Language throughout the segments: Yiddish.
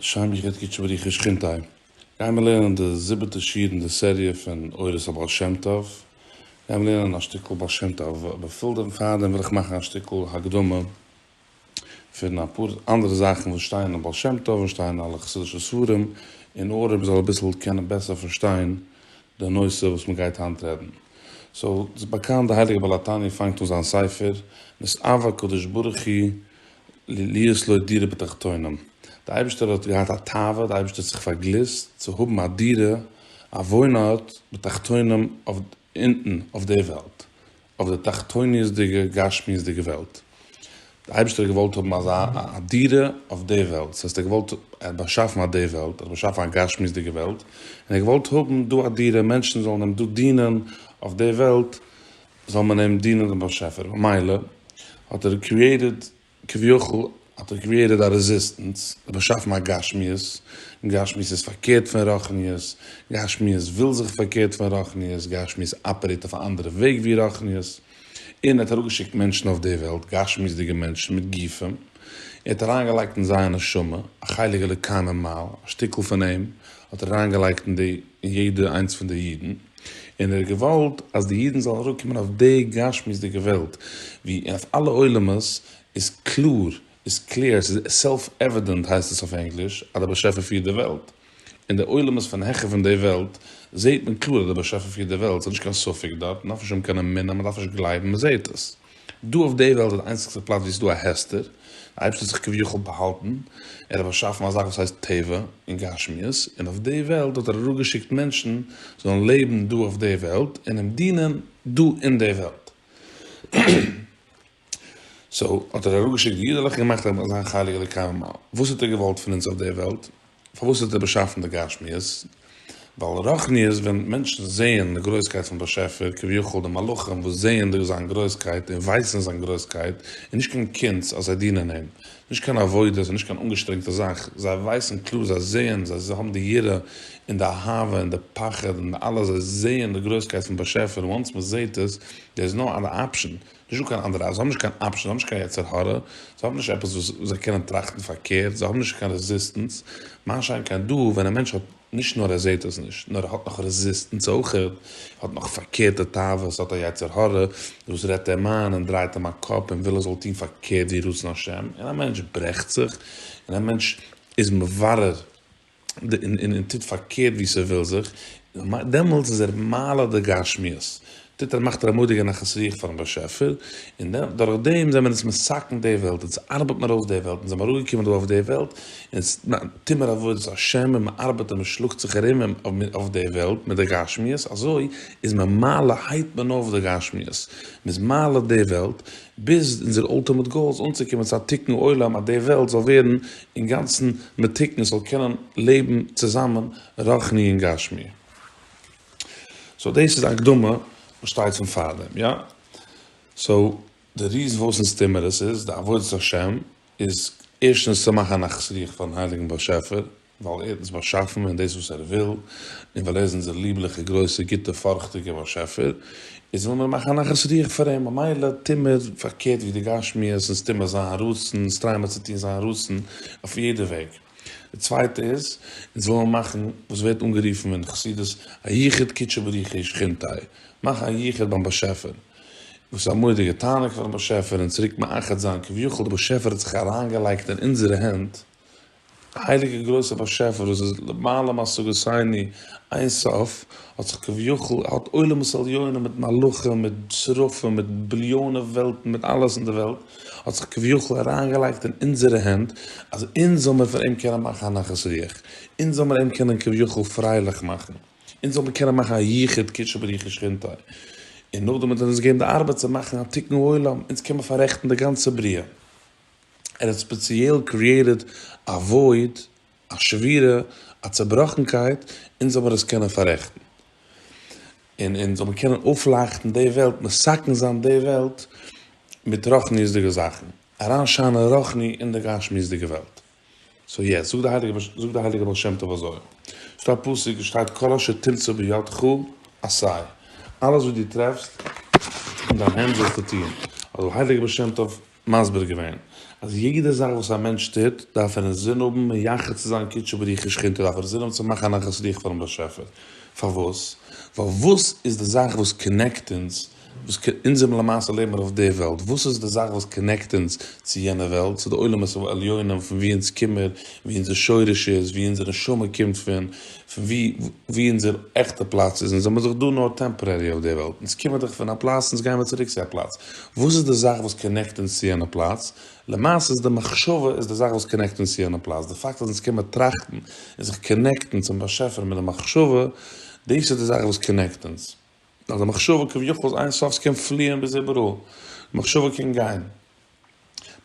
שיין מיך געטקעט שבריחי שכינתיי. גיימער לערנען די זיבעטע שיעור אין די סעריע פון אורות הבעל שם טוב. גיימער לערנען א שטיקל בעל שם טוב. באפעל דעם פארדעם וויל איך מאכן א שטיקל הקדמה פון אפאר אנדערע זאכן וואס שטייען אין בעל שם טוב און שטייען אין אלע חסידישע ספרים און אוהרם זאל אביסל קענען בעסער פארשטיין די נושא וואס מען גייט היינט רעדן. סאו, ס'איז באקאנט די הייליגע בעל התניא פאנגט אן זיין ספר מיט אב הקדוש ברוך הוא ליליות לא דירה בתחתונים, די אייבערשטער האט געהאט א תאווה, די אייבערשטער האט זיך פארגליסט צו האבן א דירה, א וואוין ארט, בתחתונים אויף אונטן אויף די וועלט, אויף די תחתוניות'דיגע גשמיות'דיגע וועלט, די אייבערשטער האט געוואלט האבן אזא א דירה אויף די וועלט, ס'הייסט ער האט געוואלט, ער האט באשאפן אט די וועלט, ער האט באשאפן א גשמיות'דיגע וועלט, און ער האט געוואלט האבן דא א דירה, מענטשן זאלן אים דא דינען אויף די וועלט, זאל מען אים דינען דעם באשעפער, ממילא האט ער קריעיטעד, כביכול האט ער קריעיטעד א רעזיסטענס, באשאפן א גשמיות, גשמיות איז פארקערט פון רוחניות, גשמיות וויל זיך פארקערט פון רוחניות, גשמיות אפערעיט אויף א אנדערע וועג ווי רוחניות, און ער האט אראפגעשיקט מענטשן אויף די וועלט, גשמיות'דיגע מענטשן מיט גופים, ער האט אריינגעלייגט אין זייער נשמה, א חלק אלוקי ממעל, א שטיקל פון אים האט ער אריינגעלייגט אין די. און יעדע איינס פון די אידן, און ער האט געוואלט אז די אידן זאלן אראפקומען אויף די גשמיות'דיגע וועלט, ווי אויף אלע עולמות איז קלאר, איז קלער, ס'איז סעלף עווידענט הייסט עס אויף ענגליש, אז דער באשעפער פירט די וועלט. אין די עולמות פון העכער פון די וועלט, זעהט מען קלאר אז דער באשעפער פירט די וועלט, ס'איז נישט קיין ספק דארט, מ'דארף נישט האבן קיין אמונה, מ'דארף נישט גלייבן, מ'זעהט עס. דא אויף די וועלט איז די איינציגסטע פלאץ ווי עס איז דא א הסתר, די אייבערשטער האט זיך כביכול באהאלטן, ער האט באשאפן א זאך וואס הייסט טבע און גשמיות, און אויף די וועלט האט ער אראפגעשיקט מענטשן זאלן לעבן דא אויף די וועלט און אים דינען דא אין די וועלט. סאו האט ער אראפגעשיקט די אידעלעך און געמאכט אז זיין חלק זאל קיימען. וואס האט ער געוואלט פון אונז אויף די וועלט? פארוואס האט ער באשאפן די גשמיות? ווייל רוחניות ווען מענטשן זעען די גרויסקייט פון באשעפער, כביכול די מלאכים וואס זעען די זיין גרויסקייט און ווייסן זיין גרויסקייט, איז נישט קיין קונץ אז זיי דינען אים, נישט קיין עבודה, ס'איז נישט קיין אנגעשטרענגטע זאך, זיי ווייסן קלאר, זיי זעען, זיי האבן די יראה און די אהבה און די פחד און אלעס, זיי זעען די גרויסקייט פון באשעפער, וואנס מ'זעט עס, דער איז נאו אדער אפשען. נישטא קיין אנדערע אז זיי האבן נישט קיין אפשען, זיי האבן נישט קיין יצר הרע, זיי האבן נישט עפעס וואס זיי קענען טראכטן פארקערט, זיי האבן נישט קיין רעזיסטענס, מה שאין כן דא ווען א מענטש האט נישט נאר ער זעהט עס נישט, נאר ער האט נאך רעזיסטענס אויך, ער האט נאך פארקערטע תאוות, ער האט א יצר הרע וואס רעדט אים איין און דרייט אים א קאפ און וויל ער זאל טון פארקערט ווי רצון השם, און א מענטש ברעכט זיך, און א מענטש איז מברר. און טוט פארקערט ווי ס'וויל זיך, דעמאלטס איז ער מעלה די גשמיות, טוט ער מאכט ער א מודיע נחת רוח פארן באשעפער, און דורך דעם זעמער אונז מסכן די וועלט, אונז ארבעט מיר אויס די וועלט, אונז זעמער אראפגעקומען דא אויף די וועלט, אונז טוט מיר עבודת השם און מ'ארבעט און מ'שלאגט זיך ארום אויף די וועלט מיט די גשמיות, אזוי איז מען מעלה הייבט מען אויף די גשמיות, מ'איז מעלה די וועלט, ביז אונזער אלטימעט גאול איז אנצוקומען צו א תיקון עולם אז די וועלט זאל ווערן אינגאנצן מתוקן זאל קענען לעבן צוזאמען רוחני און גשמי. סאו דאס איז די הקדמה וואס שטייט צום פארדעם, יא? סאו די ריזן וואס אונז טוהן מיר עס איז די עבודת השם איז ערשטנס צו מאכן א נחת רוח פארן הייליגן באשעפער ווייל ער האט אונז באשאפן און דאס וואס ער וויל און ווייל ער איז אונזער ליבליכע גרויסע גוטע פארכטיגע באשעפער איז וויל מען מאכן א נחת רוח פאר אים, ממילא טוה מיר פארקערט ווי די גשמיות, אונז טוה מיר זיין רצון, אונז טריי מיר צו טון זיין רצון אויף יעדע וועג. די צווייטע איז, אונז וויל מיר מאכן וואס ווערט אנגערופן אין חסידות א יחוד קודשא בריך הוא שכינתי', מאכן א יחוד ביים באשעפער, וואס איז א מורא'דיגע תענוג פארן באשעפער, אונז צוריק מאחד זיין, כביכול די באשעפער האט זיך אריינגעלייגט אין אונזערע הענט, הייליגער גרויסער באשעפער וואס איז למעלה מהשגותינו אין סוף, האט זיך כביכול, האט עולמות עליונים מיט מלאכים מיט שרפים מיט ביליאנען וועלטן מיט אלעס אין די וועלט, האט זיך כביכול אריינגעלייגט אין אונזערע הענט, אז אונז זאל מיר פון אים קענען מאכן א נחת רוח, אונז זאל מיר אים קענען כביכול פרייליך מאכן, אונז זאל מיר קענען מאכן א יחוד קודשא בריך הוא שכינתו, און נאכדעם האט ער אונז געגעבן די ארבעט צו מאכן א תיקון העולם, אונז קען מיר פאררעכטן די גאנצע בריאה. ער האט ספעציעל קריעטעד א וואויד, א שבירה, א צעבראכנקייט, אונז זאל מיר עס קענען פאררעכטן, און אונז זאל מיר קענען אויפלייכטן די וועלט, מסכן זיין די וועלט מיט רוחניות'דיגע זאכן, אריינשיינען רוחני אין די גשמיות'דיגע וועלט. סאו יעס, זאגט די הייליגע זאגט די הייליגע בעל שם טוב אזוי, ס'דא א פסוק וואס שטייט כל אשר תמצא בידך עשה, אלעס וואס דו טרעפסט אין דיין הענט זאלסטו טון, האט דער הייליגער בעל שם טוב מסביר געווען, אז יעדע זאך וואס א מענטש טוט, דארף ער אינזין האבן מייחד צו זיין קודשא בריך הוא שכינתא, דארף ער אינזין האבן צו מאכן א נחת רוח פארן באשעפער, פארוואס? ווייל וואס איז די זאך וואס קאנעקט אונז וואס אונז זעמיר למעשה לעבן מיר אויף די וועלט, וואס איז די זאך וואס קאנעקט אונז צו יענע וועלט, צו די עולמות העליונים פון ווי אונז קומער, ווי אונזער שורש איז, ווי אונזער נשמה קומט פון, פון ווי ווי אונזער עכטע פלאץ איז, אונז זעמיר דאך דא נאר טעמפארערי אויף די וועלט, אונז קומער דאך פון א פלאץ אונז גיימיר צוריק צו א פלאץ, וואס איז די זאך וואס קאנעקט אונז צו יענע פלאץ, למעשה איז די מחשבה איז די זאך וואס קאנעקט אונז צו יענע פלאץ, די פאקט אז אונז קומער טראכטן און זיך קאנעקטן צום באשעפער מיט די מחשבה, דאס איז די זאך וואס קאנעקט אונז. נאר די מחשבה כביכול איז איין סוף ס'קען פליען ביז איבעראל, מחשבה קען גיין,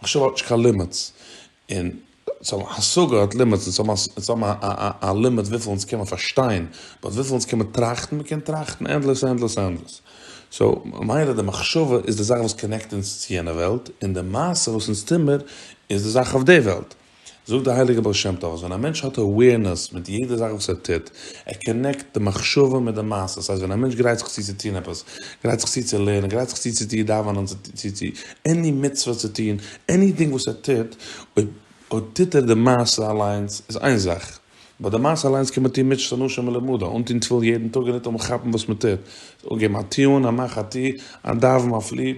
מחשבה האט נישט קיין לימיטס, און צו האבן השגה האט לימיטס, און צו האבן א לימיט וויפיל אונז קען מען פארשטיין, באט וויפיל אונז קען מען טראכטן, מען קען טראכטן ענדלעס ענדלעס ענדלעס, סאו ממילא די מחשבה איז די זאך וואס קאנעקט אונז צו יענע וועלט, און די מעשה וואס אונז טוהמער איז די זאך אויף די וועלט. זאגט די הייליגע בעל שם טוב אז ווען א מענטש האט אווערנעס מיט יעדע זאך וואס ער טוט, ער קאנעקט די מחשבה מיט די מעשה, ס'הייסט ווען א מענטש גרייט זיך צו צו טון עפעס, גרייט זיך צו צו לערנען, גרייט זיך צו צו צו דאווענען, צו צו צו עני מצוה צו טון, עניטינג וואס ער טוט, אויב טוט ער די מעשה אליינס איז איין זאך, אבער די מעשה אליינס קען מען טון מצות אנשים מלומדה, אנטון תפילין יעדן טאג און ניטאמאל כאפן וואס מ'טוט, אנגעבן א טיעון, א מאך א טו, א דאווען, א פלי.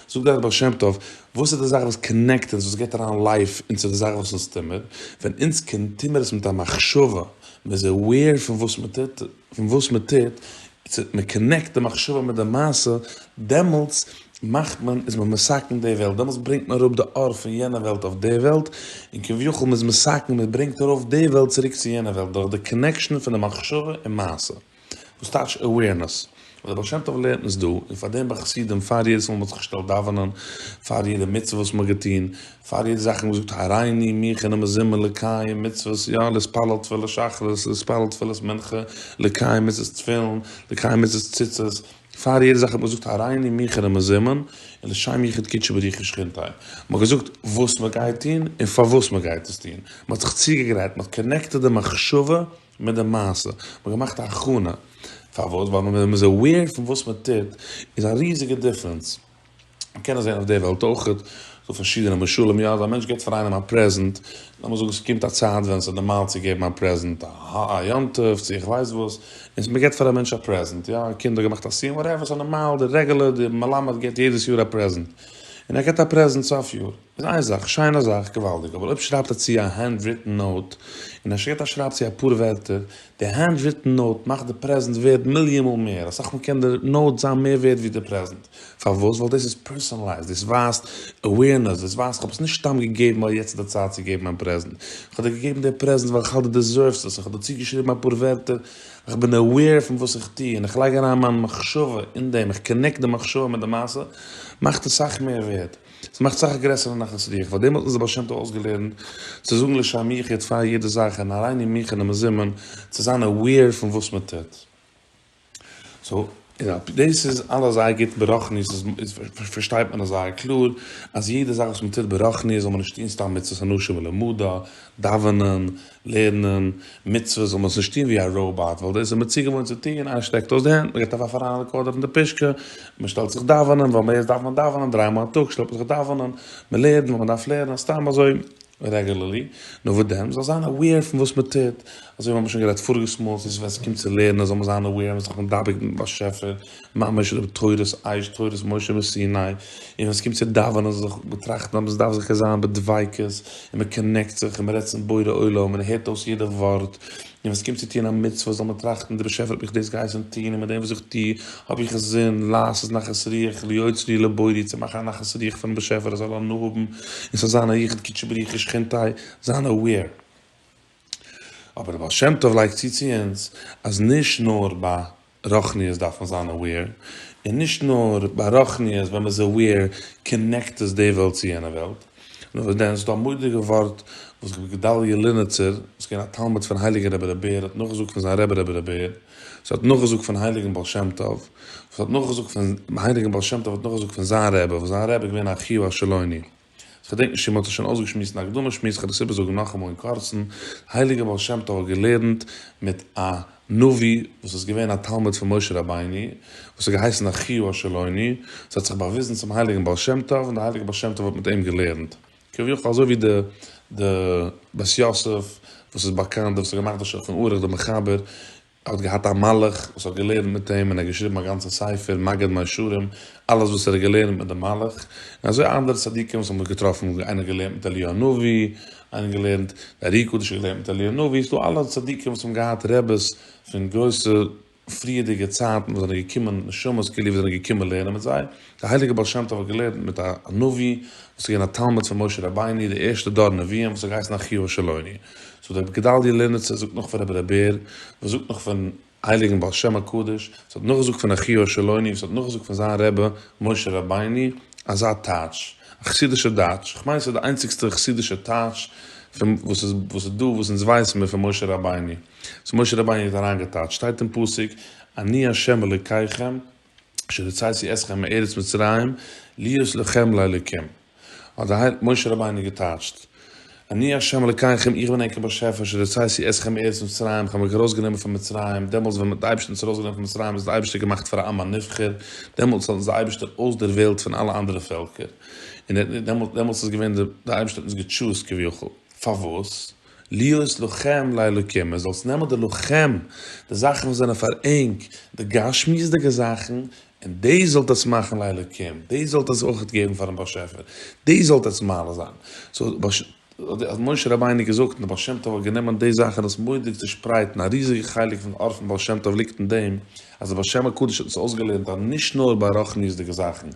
זאגט דאך דער בעל שם טוב, וואס איז די זאך וואס קאנעקט אונז, וואס געט אריין לייף און צו די זאך וואס אונז טו מיר, ווען אונז קען טו מיר עס מיט א מחשבה, מען איז עוועיר פון וואס מען טוט, פון וואס מען טוט, צו מען קאנעקט די מחשבה מיט די מעשה, דעמאלטס מאכט מען, איז מען מסכן די וועלט, דעמאלטס ברענגט מען אראפ די אור פון יענע וועלט אויף די וועלט, און כביכול מען איז מסכן, מען ברענגט ארויף די וועלט צוריק צו יענע וועלט, דורך די קאנעקשאן פון די מחשבה און מעשה. וואס טייטש אווערנעס? וואס דער בעל שם טוב לערנט אונז דא, און פאר דעם ביי חסידים, פאר יעדעס מאל מ'האט זיך געשטעלט דאווענען, פאר יעדע מצוה וואס מ'האט געטון, פאר יעדע זאך מ'האט געזאגט הריני מיך אינעם מזמור לקיים מצוות, יא, להתפלל תפילת שחרית, להתפלל תפילת מנחה, לקיים מצוות תפילין, לקיים מצוות ציצית, פאר יעדע זאך האט מען געזאגט הריני מיך אינעם מזמור, און לשם יחוד קדשי בריחי שכינתי'. מ'האט געזאגט וואס מ'גייט טון, און פארוואס מ'גייט עס טון. מ'האט זיך צוגעגרייט, מ'האט קאנעקטעד די מחשבה מיט די מעשה, מען האט געמאכט א הכנה, פארוואס? ווייל ווען מען איז אוועיר פון וואס מען טוט, איז א ריזיגע דיפרענס, מען קען עס זען אויף די וועלט אויך, ס'דא פארשידענע משלים, יא אז א מענטש געבט פאר איינעם א פרעזענט, לאמיר זאגן ס'קומט א צייט ווען ס'איז נארמאל צו געבן א פרעזענט, א יום טוב צו איך ווייס וואס, און מען געבט פאר א מענטש א פרעזענט, יא א קינד האט געמאכט א סיום וואטעווער, ס'נארמאל די רעגולער די מלמד געבט יעדעס יאר א פרעזענט, און ער געבט א פרעזענט סוף יאר. זיין זאך, שיין א זאך, געוואלדיג, אבער אויב שרייבט ער צו א הענד ריטען נאוט, און ער שגעט א שרייב צו אפאר ווערטער, די הענד ריטען נאוט מאכט די פרעזענט ווערד מיליאן מאל מער, אסאך מאל קען די נאוט זיין מער ווערד ווי די פרעזענט, פארוואס? ווייל דאס איז פערסאנעלייזד, דאס ווייזט אווערנעס, דאס ווייזט כ'האב עס נישט סתם געגעבן ווייל יעצט איז די צייט צו געבן מיין פרעזענט, כ'האב דיר געגעבן די פרעזענט ווייל כ'האלט דו דעזערווסט עס, און כ'האב דערצו געשריבן אפאר ווערטער, כ'בין אווער פון וואס איך טו, און איך לייג אריין מיין מחשבה אין דעם, איך קאנעקט די מחשבה מיט די מעשה, מאכט עס סאך מער ווערד. עס מאכט סאך גרעסערע נחת רוח, פארדעם האט אונז דער בעל שם טוב אויסגעלערנט צו זאגן לשם מיך יעצט פאר יעדע זאך און אריין אין מיך און די מזומן צו זיין aware פון וואס מען טוט. סאו אפי' דאס איז אלעס זייער גוט ברוחניות איז פארשטייט מען עס זייער קלאר אז יעדע זאך וואס מען טוט ברוחניות זאל מען נישט טון סתם מצוות אנושה מלומדה, דאווענען, לערנען מצוות זאל מען עס נישט טון ווי א ראובאט ווייל דאס איז מען צוגעוואוינט צו טון, איינער שטעקט אויס די הענט, מען געט אויף א פאראיינע קארדער פון די פישקע, מען שטעלט זיך דאווענען ווייל מאז דארף מען דאווענען, דריי מאל א טאג שטעלט מען זיך דאווענען, מען לערנט ווייל מען דארף לערנען, סתם אזוי רעגולערלי, נו וואס דען, מען זאל זיין אוועיר פון וואס מען טוט, אזוי ווי מיר האבן שוין גערעדט פאריגעס מאל, ס'איז ווען ס'קומט צו לערנען זאל מען זיין אוועיר אז מען איז דאך מדבק מיטן באשעפער, ממש ר' תורת עייש תורת משה מסיני, און ווען ס'קומט צו דאווענען זיך באטראכטן אז מ'דארף זיכער זיין בדביקות, און מ'קאנעקט זיך, און מ'רעדט צום בורא עולם, און ער הערט אויס יעדע ווארט, און ווען ס'קומט צו טון א מצוה זאל מען טראכטן, דער באשעפער האט מיך דאס געהייסן טון, און מיט דעם וואס איך טו האב איך זון, לעשות נחת רוח להיות לי לבוראי, צו מאכן א נחת רוח פונעם באשעפער ער זאל הנאה האבן, און ס'זאל זיין א ייחוד קודשא בריך שכינתי' זיין אוועיר. אבער דער בעל שם טוב לייגט צו צו אונז, אז נישט נאר ביי רוחניות דארף מען זיין אוועיר, און נישט נאר ביי רוחניות ווען מ'איז אוועיר קאנעקט עס די וועלט צו יענע וועלט, נאר דען ס'דא א מודיגע ווארט וואס רבי גדליה ליניצער וואס איז געווען א תלמיד פון הייליגען רבי ר' בער האט נאכגעזאגט פון זיין רבי רבי ר' בער וואס האט נאכגעזאגט פון הייליגען בעל שם טוב וואס האט נאכגעזאגט פון הייליגען בעל שם טוב האט נאכגעזאגט פון זיין רבי וואס זיין רבי איז געווען א חיו א שלוני. כ'דענק נישט צי מ'האט עס שוין אויסגעשמועסט אין א הקדמה שמועס, כ'על עס איבערזאגן נאכאמאל אין קורצן, הייליגער בעל שם טוב האט געלערנט מיט א נביא וואס איז געווען א תלמיד פון משה רבינו, וואס האט געהייסן אחיו השילוני, ס'האט זיך באוויזן צום הייליגן בעל שם טוב, און דער הייליגער בעל שם טוב האט מיט אים געלערנט, כביכול אזוי ווי די די בית יוסף וואס איז באקאנט, וואס האט געמאכט די שולחן ערוך, די מחבר, ער האט געהאט א מלאך וואס האט געלערנט מיט אים און ער האט געשריבן א גאנצע ספר מגיד מישרים אלעס וואס ער האט געלערנט מיט די מלאך און אזוי אנדערע צדיקים וואס האבן זיך געטראפן איינער געלערנט מיט אליהו הנביא איינער געלערנט די ארי קדוש האט געלערנט מיט אליהו הנביא ס'דא אלע צדיקים וואס האבן געהאט רעבעס פון גרויסע פריערדיגע צייטן וואס זענען געקומען נשמות כאילו וואס זענען געקומען לערנען מיט זיי. דער הייליגער בעל שם טוב האט געלערנט מיט א נביא וואס איז געווען א תלמיד פון משה רבינו, די ערשטע דור נביאים וואס האט געהייסן אחיו של עוני, זאגט רבי גדלי' ליניצער זאגט נאך פון רבי ר' בער וואס זאגט נאך פון הייליגן בעל שם הקדוש וואס האט נאכגעזאגט פון אחיו של עוני וואס האט נאכגעזאגט פון זיין רבי משה רבינו, אזא טייטש, א חסידישע דייטש, כ'מיין ס'איז די איינציגסטע חסידישע טייטש פון וואס איז וואס איז דא וואס אונז ווייסן מיר פון משה רבינו, וואס משה רבינו האט אריינגעטייטשט, שטייט אין פסוק, אני השם אלוקיכם, אשר הוצאתי אתכם מארץ מצרים להיות לכם לאלקים האט די הייליגע משה רבינו געטייטשט, אני ה' אלקיכם איך בין ענקער באשעפער אשר הוצאתי אתכם מארץ מצרים איך האב אייך ארויסגענומען פון מצרים, דעמאלטס ווען מ'האט די אייבערשטער אונז ארויסגענומען פון מצרים איז די אייבערשטער געמאכט פאר א עם הנבחר, דעמאלטס האט אונז די אייבערשטער אויסדערוועלט פון אלע אנדערע פעלקער, און ער האט נישט דעמאלטס דעמאלטס איז געווען די די אייבערשטער האט אונז געטשוזט כביכול, פארוואס? להיות לוחם לאלקים, מען זאל עס נעמען די לוחם, די זאכן וואס זענען פאר ענק, די גשמיות'דיגע זאכן, און דאס זאלט עטס מאכן לאלקים, דאס זאלט עטס אויך געבן פאר'ן באשעפער, דאס זאלט עטס מעלה זיין. סאו האט משה רבינו געזאגט, און די בעל שם טוב האט גענומען די זאך און עס מורא'דיג צושפרייט, און א ריזיגע חלק פון ארף פון בעל שם טוב ליגט אין דעם, אז דער בעל שם הקדוש האט אונז אויסגעלערנט אז נישט נאר ביי רוחניות'דיגע זאכן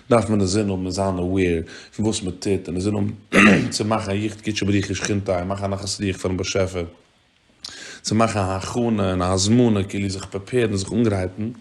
דארף מען אינזין האבן און זיין aware פון וואס מען טוט און אינזין האבן צו מאכן א יחד קודשא בריך שכינתא און מאכן א נחת רוח פארן באשעפער צו מאכן א הכנה און א הזמנה כאילו זיך פרעפערן זיך אנגרייטן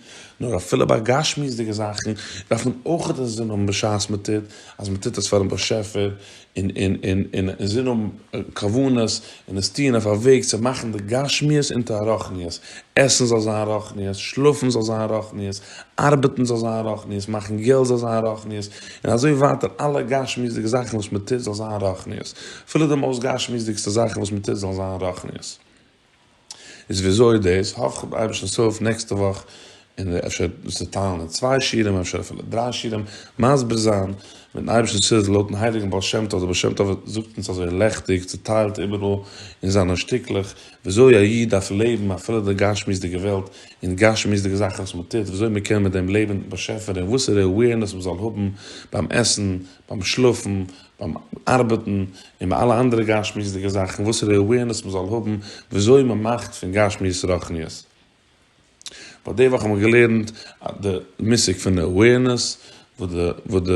נאר אפילו ביי גשמיות'דיגע זאכן דארף מען אויך אינזין האבן בשעת מען טוט אז מען טוט עס פארן באשעפער און און און און און זיי האבן כוונות און עס טוען אויף א וועג צו מאכן די גשמיות אונטער א רוחניות, עסן זאל זיין רוחניות, שלאפן זאל זיין רוחניות, ארבעטן זאל זיין רוחניות, מאכן געלט זאל זיין רוחניות, און אזוי ווייטער אלע גשמיות'דיגע זאכן וואס מען טוט זאל זיין רוחניות, אפילו די מאוסט גשמיות'דיגסטע זאכן וואס מען טוט זאלן זיין רוחניות. איז וויאזוי איז דאס? האף איך אייבערשטנ'ס הילף נעקסטע וואך און אפשר צוטיילן אין צוויי שיעורים, אפשר אפילו דריי שיעורים, מסביר זיין מיטן אייבערשטנ'ס הילף לויטן הייליגן בעל שם טוב, דער בעל שם טוב זאגט אונז אזוי לעכטיג צוטיילט איבעראל אין זיינע שטיקלעך וויאזוי א איד דארף לעבן אפילו די גשמיות'דיגע וועלט און דיגשמיות'דיגע זאכן וואס מען טוט וויאזוי מען קען מיט דעם לעבן באשעפער און וואסערע עווערנעס מען זאל האבן ביים עסן, ביים שלאפן, ביים ארבעטן און ביי אלע אנדערע גשמיות'דיגע זאכן וואסערע אווערנעס מען זאל האבן וויאזוי מען מאכט פון גשמיות רוחניות. ווייל די וואך האבן מיר געלערנט די מושג פון אווערנעס וואס די וואס די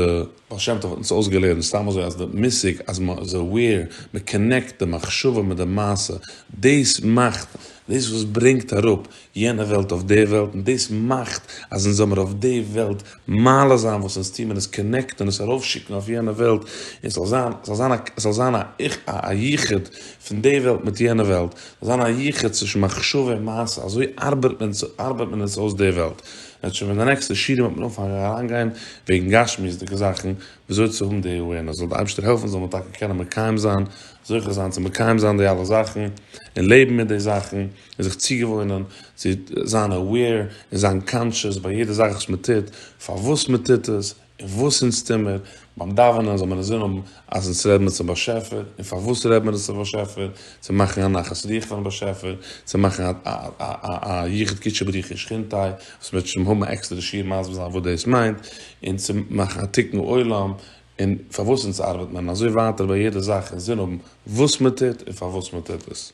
בעל שם טוב האט אונז אויסגעלערנט סתם אזוי אז די מושג אז מען איז אווער מען קאנעקט די מחשבה מיט די מעשה דאס מאכט דאס וואס ברענגט אראפ יענע וועלט אויף די וועלט און דאס מאכט אז אונז זאל מיר אויף די וועלט מעלה זיין וואס אונז טוהן און עס קאנעקטען עס ארויף שיקן אויף יענע וועלט און ס'זאל זיין ס'זאל זיין א ס'זאל זיין א א יחוד פון די וועלט מיט יענע וועלט ס'זאל זיין א יחוד צווישן מחשבה און מעשה אזוי ארבעט מען ארבעט מען אונז אויס די וועלט וועט שוין ווען די נעקסטע שיעורים וועט מען אנפאנגען אריין גיין וועגן גשמיות'דיגע זאכן ווי אזוי צו האבן די awareness זאל די אייבערשטער העלפן זאל מען טאקע קענען מקיים זיין זוכה זיין צו מקיים זיין די אלע זאכן און לעבן מיט די זאכן. זיך צוגעוואוינען צו זיין aware און זיין קאנטשעס ביי יעדע זאך וואס מען טוט, פארוואס מען טוט עס, און וואס אונז טוהן מיר, ביים דאווענען זאל מען אינזין האבן אז אונז רעד מיר צום באשעפער, און פארוואס רעד מיר אונז צום באשעפער, צו מאכן א נחת רוח פארן באשעפער, צו מאכן א יחוד קודשא בריך הוא שכינתי', וואס מ'וועט שוין האבן א עקסטערע שיעור מסביר זיין וואס דאס מיינט, און צו מאכן א תיקון עולם, און פארוואס אונז ארבעט מען, און אזוי ווייטער ביי יעדע זאך אינזין האבן וואס מען טוט און פארוואס מען טוט עס.